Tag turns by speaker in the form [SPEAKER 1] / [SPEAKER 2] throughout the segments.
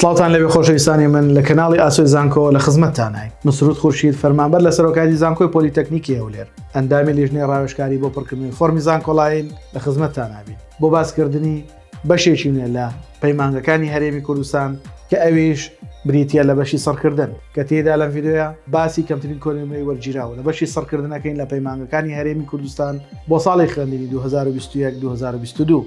[SPEAKER 1] سڵاوتان لەوێ خۆشەویستانی من لە کەناڵی ئاسۆی زانکۆ لە خزمەتتانای مسرود خورشید فەرمانبەر لە سەرۆکاتی زانکۆی پۆلیتەکنیکی هەولێر ئەندامی لیژنەی ڕاوێژکاری بۆ پڕکردنی فۆرمی زانکۆڵاین لە خزمەتتانابین بۆ باسکردنی بەشێکی نوێ لە پەیمانگەکانی هەرێمی کوردستان کە ئەویش بریتە لە بەشی سڕکردن کە تێدا لەم یددیوە باسی کەمترین کۆنمەی وەرگیراوە لە بەشی سڕکردنەکەین لە پەیمانگەکانی هەرێمی کوردستان بۆ ساڵی خوێندنی 2021 2022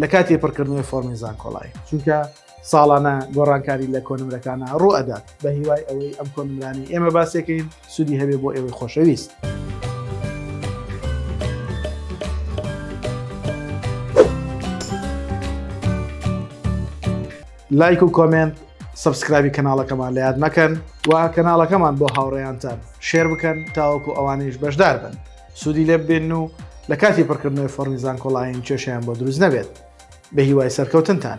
[SPEAKER 1] لە کاتی پڕکردنەوەی فۆرمی زانکۆڵای چونکە ساڵانە گۆڕانکاری لە کۆنمرەکانە ڕوو ئەدات بە هیوای ئەوەی ئەم کۆنمرانی ئێمە باسێکین سوودی هەبێ بۆ ئێوەی خۆشەویست. لایک و کۆمنت سبسکرابی کەناڵەکەمان لە یاد مەکەن و کەناڵەکەمان بۆ هاوڕێیانتان شێر بکەن تاوەکو ئەوانیش بەشدار بن. سوودی لێ ببێن و لە کاتی پڕکردنەوەی فۆڕمی زانکۆڵاین کێشیان بۆ دروست نەبێت بە هیوای سەرکەوتنتان.